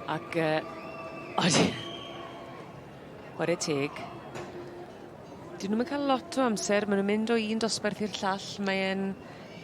Ac, uh, oed... Ware teg. Dyn nhw'n cael lot o amser, maen nhw'n mynd o un dosbarth i'r llall, mae'n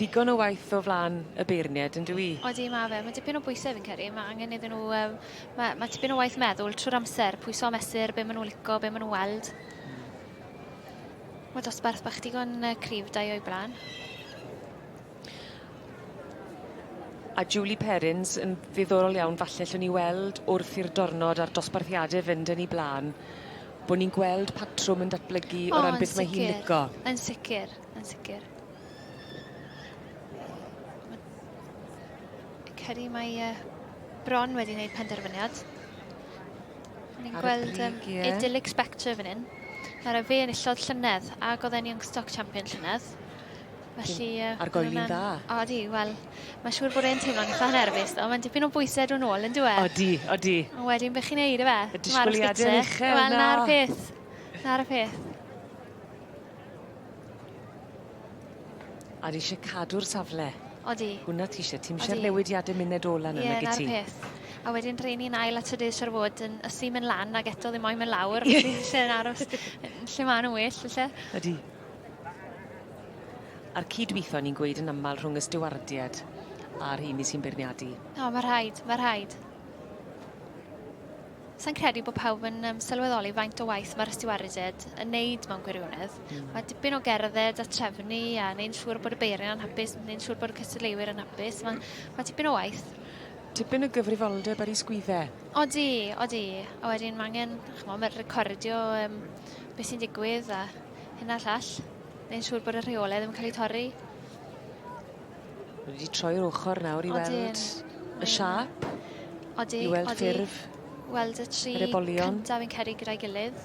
ddigon o waith o flaen y beirniaid, yn dwi? Odi, mae fe. Mae dipyn o bwysau fi'n credu. Mae angen iddyn nhw um, mae, mae tipyn o waith meddwl trwy'r amser, pwyso a mesur, be maen nhw'n lico, be maen nhw'n weld. Mae dosbarth bach digon uh, cryf da o'i blaen. A Julie Perrins yn ddiddorol iawn, falle lle ni weld wrth i'r dornod a'r dosbarthiadau fynd yn ei blaen, bod ni'n gweld patrwm yn datblygu o, o ran beth mae hi'n lico. Yn sicr, yn sicr. Ceri, mae uh, Bron wedi gwneud penderfyniad. Ni'n gweld um, idyllic spectre fan hyn. Ar y fe enillodd llynedd, ac oedd e'n Youngstock Champion llynedd. Felly... Uh, Ar goeli'n dda. O, di, wel, mae siŵr bod e'n teimlo'n eitha nerfus, ddo. Mae'n dipyn o bwysau dwi'n ôl, yn dwi e? O, di, o, di. Ond wedyn, beth chi'n neud, efe? Y disgwyliadau yn uchel, na. Wel, na'r peth. Na'r peth. A di isie cadw'r safle. Odi. Hwnna ti isie. Ti'm isie'r newidiade munud ola na nag wyt ti? Ie, 'na'r peth. A wedyn rei ni'n ail at y dydd siŵr fod yn ysu mynd lan ac eto ddim moyn mynd lawr, felly lle yn aros lle ma' nhw'n well, felly. Ydi. A'r cydweithio ni'n gweud yn aml rhwng y stiwardiad a'r rheini sy'n beirniadu. O, mae rhaid, mae rhaid. Sa i'n credu bod pawb yn um, sylweddoli faint o waith mae'r ystiwarided yn neud mewn gwirionedd. Mm. Mae dipyn o gerdded a trefnu a neu'n siŵr bod y beiriau'n anhapus, neu'n siŵr bod y cystadleuwyr yn hapus. Mae, mae dipyn o waith. Tipyn o gyfrifoldeb ar ei sgwydde. Odi, odi. A wedyn mae angen, chmo, mae recordio um, beth sy'n digwydd a hynna llall. Neu'n siŵr bod y rheolau ddim yn cael eu torri. Ni wedi troi'r ochr nawr i weld... Odyn. ...y siâp. Odi, odi. I weld ffurf... Weld y tri... yr ebolion. ...cynta fi'n credu gyda'i gilydd.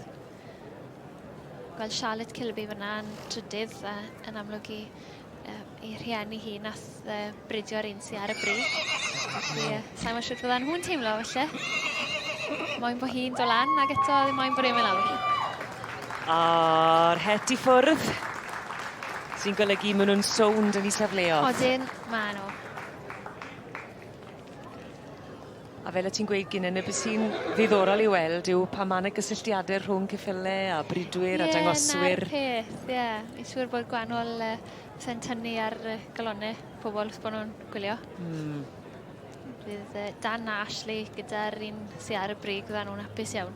Gweld Charlotte Kilby fyna yn trydydd a yn amlwg i uh, ei rhieni hi nath uh, bridio'r un sy'n ar y bri. Felly, uh, sa'n siŵr bydda nhw'n teimlo felly. Moyn bod hi'n do lan, ac eto ddim moyn bod e'n mynd lawr. A'r het i ffwrdd. Sy'n golygu ma' nw'n sownd yn 'u safleodd. Odyn, ma' n'w. A fel o' ti'n gweud Ginainne be' sy'n ddiddorol i'w weld yw pan ma' 'na gysylltiade rhwng ceffyle a bridwyr a dangoswyr. Ie 'na'r peth ie. Fi'n siŵr bod gwanol yy fe'n tynnu ar yy galone pobol os bo' nw'n gwylio. Hmm. Bydd yy Dan a Ashley gyda'r un sy ar y brig fydda nw'n apus iawn.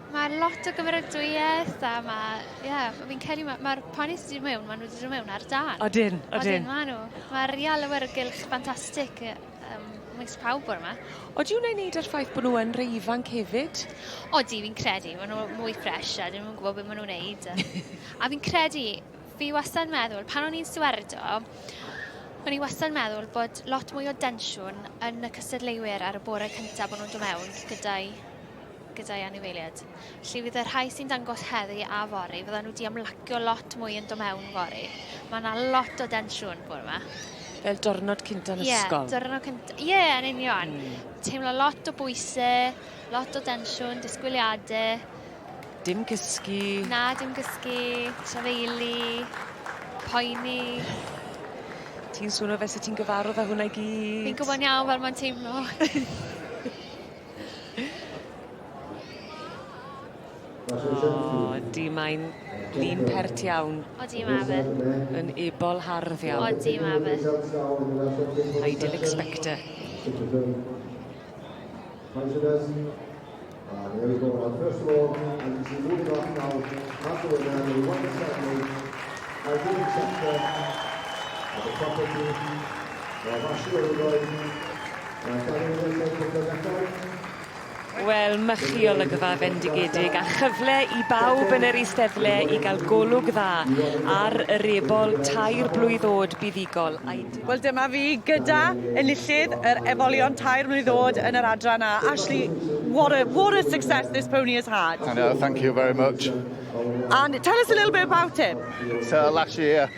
Mae lot o gymeradwyaeth a mae, ie, yeah, fi'n credu mae'r ma poni sydd wedi mewn, maen nhw wedi dod mewn ar dan. Odyn, odyn. Odyn, maen nhw. Mae'r real awyrgylch ffantastig um, mis pawb o'r yma. Odi wna'n neud ar ffaith bod nhw yn rei ifanc hefyd? Odi, fi'n credu. Maen nhw mwy ffres a dyn nhw'n gwybod beth maen nhw'n neud. a fi'n credu, fi wastad yn meddwl, pan o'n i'n stiwardo, O'n i wastad yn meddwl bod lot mwy o densiwn yn y cystadleuwyr ar y bore cyntaf bod nhw'n dod mewn gyda'i gyda'i anifeiliaid. Felly fydd y rhai sy'n dangos heddi a fori, fydda nhw di amlacio lot mwy yn do mewn fori. Mae yna lot o densiwn bore yma. Fel diwrnod cynta yn yeah, ysgol. Ie, diwrnod cynta. Ie, yeah, yn union. Mm. Teimlo lot o bwysau, lot o densiwn, disgwyliadau. Dim gysgu. Na, dim gysgu. Trafeili. Poeni. Ti'n swnio fe sy'n ti'n gyfarw fe hwnna i gyd. Fi'n gwybod iawn fel mae'n teimlo. O, di mae'n lun pert iawn. Odi, mae fe. Yn ebol hardd iawn. Odi, mae fe. I didn't expect it. Mae Darren Jones o'r Gogledd Ethol. Wel, mychi olygfa fendigedig a chyfle i bawb yn yr Eisteddle i gael golwg dda ar yr ebol tair blwydd o'd buddugol a'i dyn- Wel dyma fi gyda enillydd yr ebolion tair mlwydd o'd yn yr adran A, Ashley, what a, what a success this pony has had. I know, thank you very much. And tell us a little bit about him. So last year,